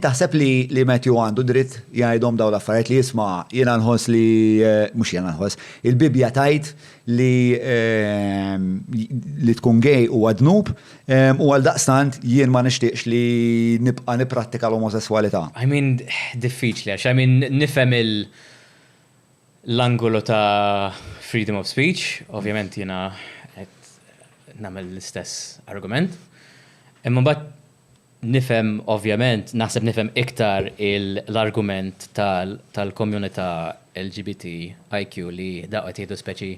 Taħseb li li Matthew għandu dritt jgħidhom dawn l-affarijiet li jisma' jiena nħoss li eh, mhux jiena nħoss, il-Bibbja tajt li eh, li tkun gej huwa dnub eh, u għal daqstant jien ma nixtieqx li nibqa' nipprattika l-omosessualità. I mean, diffiċli, għax I mean, nifhem il l-angolu ta' freedom of speech, ovvjament jiena qed nagħmel l-istess argument. Imma mbagħad Nifhem ovvjament, naħseb nifhem iktar l-argument tal-communità LGBTIQ li dawk qed jieħdu speċi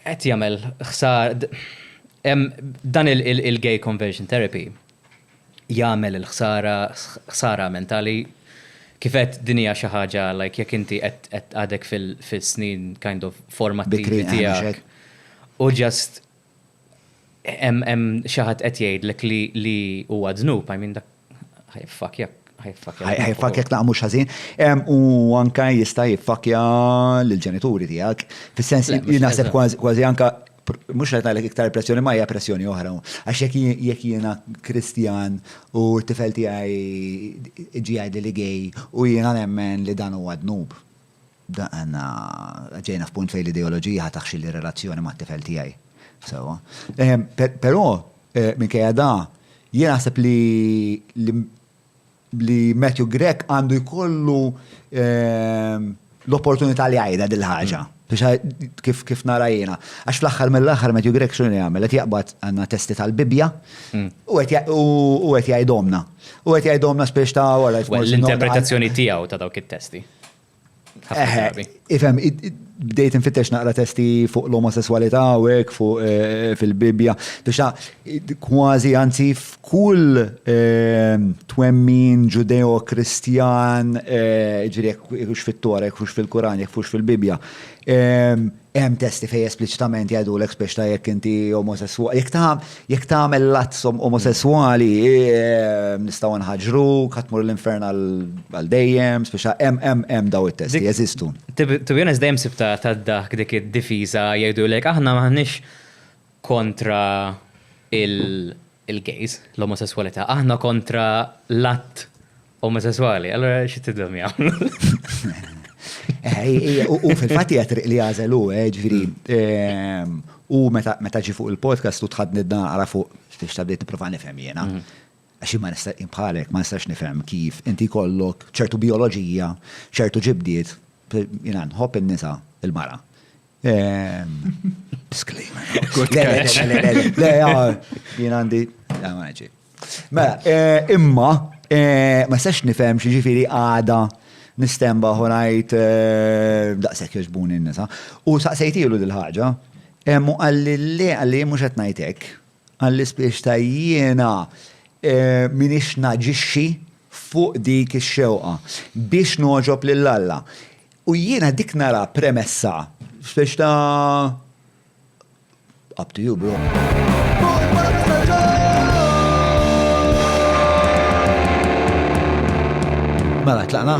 qed jagħmel ħsara, hemm dan il-gay conversion therapy jagħmel il-ħsara, ħsara mentali. Kif għedt din hija xi ħaġa like jekk inti qed għadek fil-snin kind of formattivi tiegħek u just Hemm xi ħadd qed jgħidlek li huwa dnub, I mean dak ħajfakja, ħajfakja. Ħajfakja dak mhux ħażin. U anke jista' jiffakja lill-ġenituri tiegħek. Fis-sens li naħseb kważi anke mhux qed ngħidlek iktar pressjoni ma hija pressjoni oħra. Għax jekk jiena Kristjan u t-tifel tiegħi ġie jgħidli li gay u jiena nemmen li dan huwa dnub. Daqna ġejna f'punt fejn l-ideoloġija ħa taħxilli r-relazzjoni mat-tifel tiegħi. Sewwa. Però, minkejja da, jien naħseb li li Matthew Grech għandu jkollu l-opportunità li jgħidha din il-ħaġa. Biex kif nara jiena. Għax fl-aħħar mill-aħħar Matthew Grech x'inhu li jagħmel? Qed jaqbad għandna testi tal-Bibbja u qed jgħidhomlna. U qed jgħidhomlna spiex ta' wara. L-interpretazzjoni tiegħu ta' dawk it-testi. Ifem, bdejt infittex naqra testi fuq l-omosessualità u hekk fuq eh, fil-Bibbja. Tuxa kważi anzi f'kull eh, twemmin ġudeo-kristjan, eh, ġifieri jekk fit-Torek, fux fil-Kuran, jekk fux fil-Bibbja. Hemm testi fejn espliċitament jgħidulek spiex ta' jekk inti omosesswali. Jekk ta' jekk tagħmel l-azzom omosesswali eh, nistgħu nħaġru, katmur l-infern għal dejjem, spiex ta' hemm hemm hemm daw it-testi jeżistu. To be honest dejjem sibta tad-daħk dik id-difiża jgħidulek aħna m'aħniex kontra il- il-gays, l-omosesswalità, aħna kontra l-att omosesswali, allura xi tidhom jagħmlu? Eh, u fil-fatti għatriq li għazel u, eh, ġviri, ehm, u meta ġi fuq il-podcast u tħadni d-naqra fuq biex ta' bdiet niprofa nifhem jena. Mhm. Għaxi ma nista' imħalek, ma nistax nifhem kif inti kollok ċertu bioloġija, ċertu ġibdiet, jena nħobb in-nisa il-mara. Disclaimer. Le, jien għandi. Mela, eh, imma, eh, ma sex nifhem xi ġifieri għada nistemba ħonajt eh, daqshekk jogħġbuni n-nisa. U saqsejtilu dil-ħaġa, mu għalli le għalli mhux qed ngħidlek, għalli spiex ta' jiena minix naġixxi fuq dik ix-xewqa biex noġob lil Alla. U jiena dik nara premessa. Speċi ta' up to you bro. Mela, tlaqna?